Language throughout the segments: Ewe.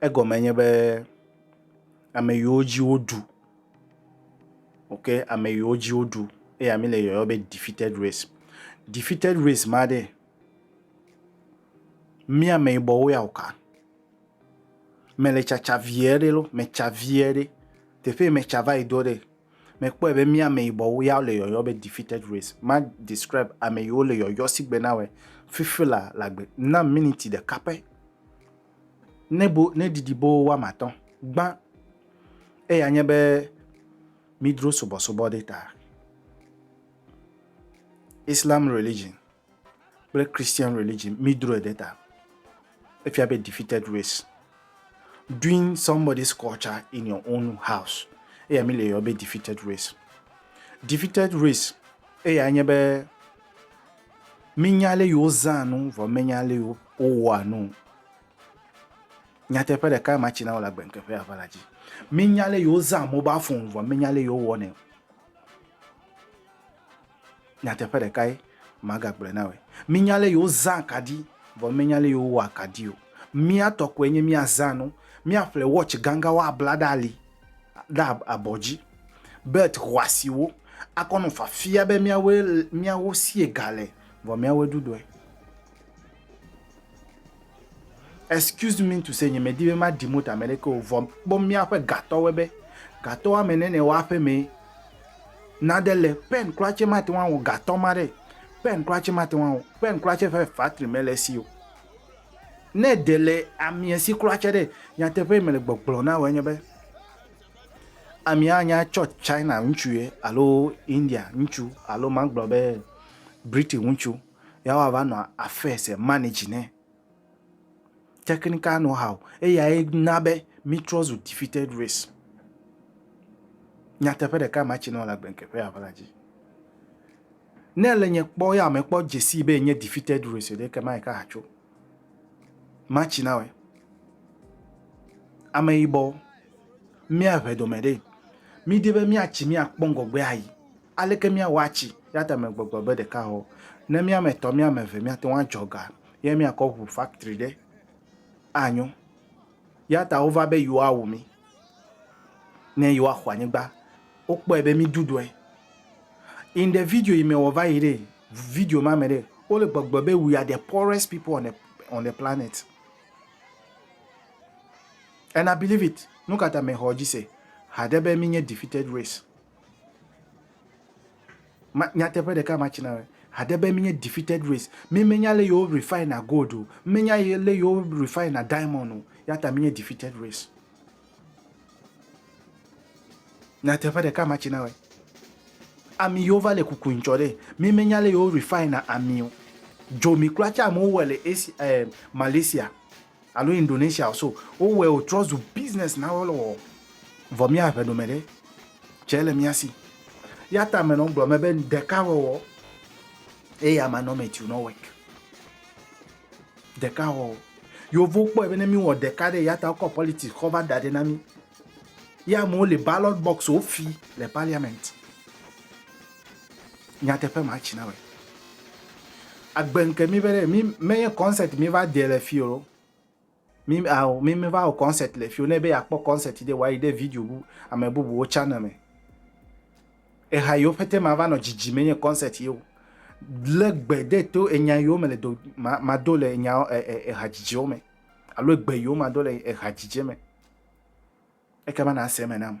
Egɔme nye be ame yiwo dzi woɖu, ok, ame yiwo dzi woɖu eya mi le yɔyɔ be defeated race. Defeated race ma ɖe, mi ameyibɔwo ya woka? Mele tsatsa vie ɖe lɔ, metsa vie ɖe. Teƒe yi metsa va yi ɖo ɖe. Mekpɔe be mía ameyibɔwo ya le yɔyɔ be defeated race. Ma describe ame yiwo le yɔyɔ sigbe na wɛ fifi la le agbe na miniti ɖeka pɛ. Ne bo ne ɖiɖi bo woame atɔ̃ gbã eya nye be midro subɔsubɔ ɖe ta. Islam religion kple Christian religion mi drɔe ɖe ta. Efia be defeated race. Doing somebody's culture in your own house. Eya mi le yɔ be defeated race. Defeated race eya nye be mi nya le yewo zã nu vɔ mi nya le yewo wɔa nu. Nyateƒe ɖeka ma tsi na wole agbenkeƒe ava la dzi. Mi nya le yewo zã mobile phone vɔ mi nya le yewo wɔnɛ. Nyateƒe ɖekae magagblɔe na wòe. Mínya ale yewozã akaɖi, vɔ míenya ale yewowɔa akaɖi o. Mía tɔ koe nye míazã nu. Míaƒle watch gãgãwo abla ɖe ali, ɖe abɔ dzi, belt xɔasiwo, akɔ nɔ fafia be míawoe, míawo sie ga le, vɔ míawoe ɖuɖɔe. Excuse me to say nye me di be ma ɖi moto ame ɖeke o vɔ kpɔ míaƒe gatɔwoe be gatɔ woame ene ne woaƒe mee. Naɖe le pen kura tse mate ŋu awɔ gatɔ ma ɖe. Pen kura tse mate ŋu awɔ. Pen kura tse ƒe factory me le esi o. Ne de le amia si kura tse ɖe nyateƒe yi me le gbɔgblɔ na wòa enye be amia anya tsɔ China ŋutsu ye alo India ŋutsu alo magblɔ be British ŋutsu. ya wa va nɔ affaires e manage nɛ technical know how eya ye na be mi trɔ zu defeated race nyateƒe ɖeka ma tsi nɔ le agbe keƒe ya vla dzi ne le nye kpɔ ya me kpɔ dzesi be nye defeated race ɖe ke ma yi ka hatso ma tsi na we ame yibɔ mi a ʋe dome ɖe mi di be mi a tsi mi a kpɔ ŋgɔgbe ayi Aleke míawɔ atsi yadamɛgbɔgbɔ be ɖekahɔ? Ne míame etɔ̃, míame eve míate ŋu adzɔ ga ye míakɔ ŋu faktri ɖe, anyo. Ya ta wova be yewoawu mí ne yewoaxɔ anyigba. Wokpɔe be mí ɖuɖɔe. In the video yi me wɔva yi ɖe, video ma me ɖe, wole gbɔgblɔ be we are the poorest people on the on the planet. And I believe it. Nukata mexɔ edzi se haɖe be mínye defeated race? Ma, nyateƒe ɖeka ma tsina be, hade be menye defeated race. Mi menya le yewo refine gold o. Menya le yewo refine diamond o. Ya ta menye defeated race. Nyateƒe ɖeka ma tsina be, ami yewo va le kuku ŋtsɔ ɖe. Mi menya le yewo refine ami o. Dzomi kura tse amewo wɔ le Asia, eh, Malaysia. Alo Indonesia o so wowɔe wotrɔ zu business na wo le wɔwɔ vɔ mía ŋɛ ɖome ɖe tsɛ le mía si. Eya ta mɛ nɔ gblɔ mɛ be ɖeka wɔwɔ eye ama nɔ mɛ tiu nɔ work. Ɖeka wɔwɔ. Yovo kpɔɛ be ne mí wɔ ɖeka ɖe eya ta wokɔ politics kɔ va da ɖɛ na mí. Ye amewo le ballot box wo fi le parliament. Nyateƒe ma tsi na me. Agbe ŋke mi be ɖe mi me nye kɔnsɛt mi va de le fi o. Mi ao mi me va wɔ kɔnsɛt le fi o. Ne be ya kpɔ kɔnsɛt ɖe wa yi ɖe video bu ame bubu wo tsana me. Eha yi wo pete ma va nɔ dzidzi me nye kɔnsɛt ye o. Le gbe de to enya yi wo me le do ma ma do le enya e e eha dzidzi wo me. Alo egbe yi wo ma do le eha dzidzi me. Eke ma na se me nam.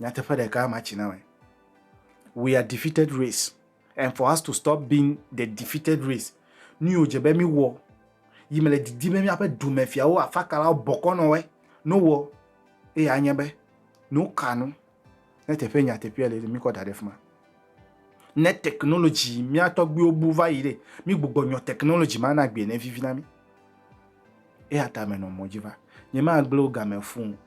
Nyateƒe ɖeka ma tsi na me. We are defeated race and for us to stop being the defeated race, nu yiwo dze be mi wɔ, yi me le didi be miaƒe dumefiawo afakalawo bɔkɔ nɔ wɛ, no wɔ, eye anye be no ka nu ne teƒe nyateƒea le ɖe mi kɔ da ɖe fima. Ne technology mia tɔgbiwo bu va yi ɖe, mi gbugbɔ nyɔ technology ma na gbie ne vivi na mi. Eya ta me nɔ mɔdzi va. Nye ma gbleo game fuu.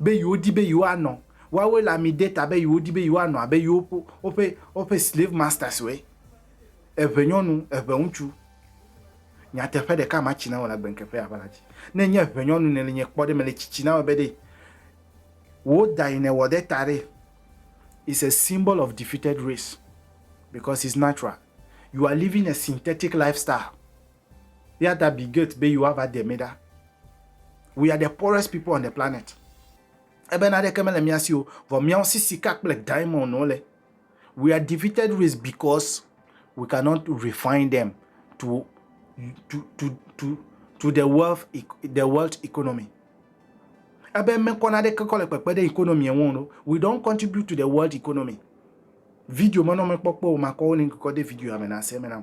be yewodi be yewoanɔ woawoe le ami de ta be yewodi be yewoanɔ abe yewo ƒe woƒe woƒe slave masters we eʋe nyɔnu eʋe ŋutsu nyateƒe ɖeka ma tsi na wò le agbenkeƒe aʋa la dzi ne nye eʋe nyɔnu ne le nye kpɔ ɖe me le tsitsi na wò be ɖe wò da yi ne wɔ ɖe ta ɖe is a symbol of defeated race because it's natural you are living a synthetic lifestyle Eya ta bi gate be yewoa va de mi ɖa. We are the poorest people on the planet. Ebe na ɖeke mele mía si o, vɔ míawo si sika kple diamond wo le. We are defeated race because we cannot refine them to to to to to the wealth e, the world economy. Ebe me kɔ na ɖeke kɔ le kpekpe ɖe economy ŋu no. We don't contribute to the world economy. Video menɔ mekpɔkpɔ o makɔ wo link kɔ de video ya me na se me na.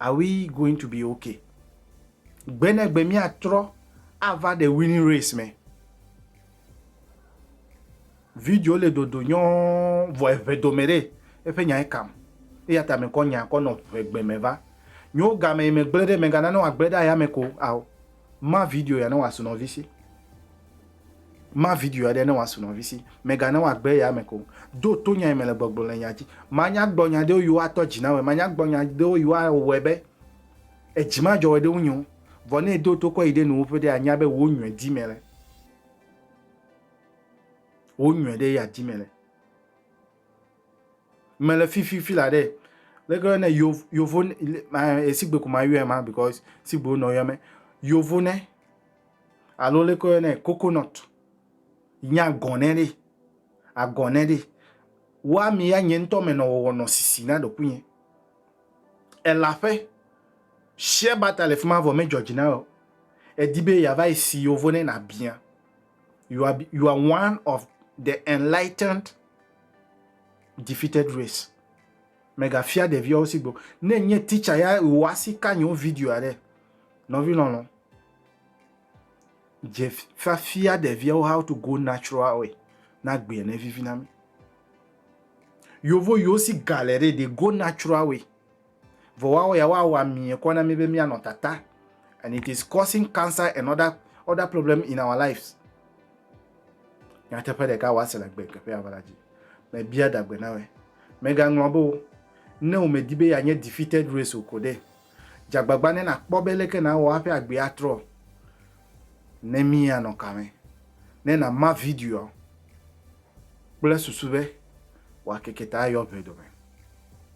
Are we going to be okay? Gbe ne gbe míatrɔ ava the winning race me. Video le dodo nyɔɔ vɔ eŋe dome ɖe eƒe nyae kam. Eya ta mekɔ nya kɔ nɔ ŋegbe me va. Nyo game megble ɖe megana ne wòagble ɖe ayame ko ao. Ma video ya ne wòasu nɔvi si. Ma video aɖe ne wòasu nɔvi si. Mègana wòagbe eya ame ko o. Ɖo to nya yi mele gbɔgblɔm le nya dzi. Manyagbɔnya ɖewo yiwo atɔ dzi na wòe. Manyagbɔnya ɖewo yiwo awɔe be edzi madzɔ wòe ɖe wo nyo. Vɔ ne èdo to kɔ yi ɖe nuwò ƒe ɖe, ànya be wò nyuie di mele. Wò nyuie ɖe ye àdi mele. me le fi fi fi la ɖe leke woyɔnɛ Yovo- yovo ne- le- ma- eh, sigbe ko mayɔɛ ma because sigbewo nɔ yɔ mɛ yovo ne alo leke woyɔnɛ coconut nye agɔnɛ ɖi agɔnɛ ɖi woa mi ya nye ŋutɔ me nɔ wɔwɔ nɔ sisi na ɖokuinye ela ƒe share butter le fi ma vɔ me dzɔ dzi na wɔ o edi be yeava yi si yovo ne na bia you are, you are one of the enlightened defeated race megafia ɖeviawo si gbo ne nye teacher ya wò asi ka nyewo video aɖe nɔvi lɔlɔ dze fafia ɖeviawo how to go natural way na gbea ne vivi na mi yovo yiwo si gale ɖe they go natural way Vɔ woawo ya woawɔ amie kɔ na mí be míanɔ tata and it is causing cancer and other other problem in our lives. Nyateƒe ɖeka woase le gbe keƒe ava la dzi. Mebia dagbe na wɛ. Megaŋlɔ be o. Ne womedi be yeanye defeated race o ko ɖe, dze agbagba ne nàkpɔ be leke nàwɔ hafi agbee atrɔ ne míanɔ ka me. Ne nàma videoa kple susu be wòakeke ta ayɔ ʋe dome.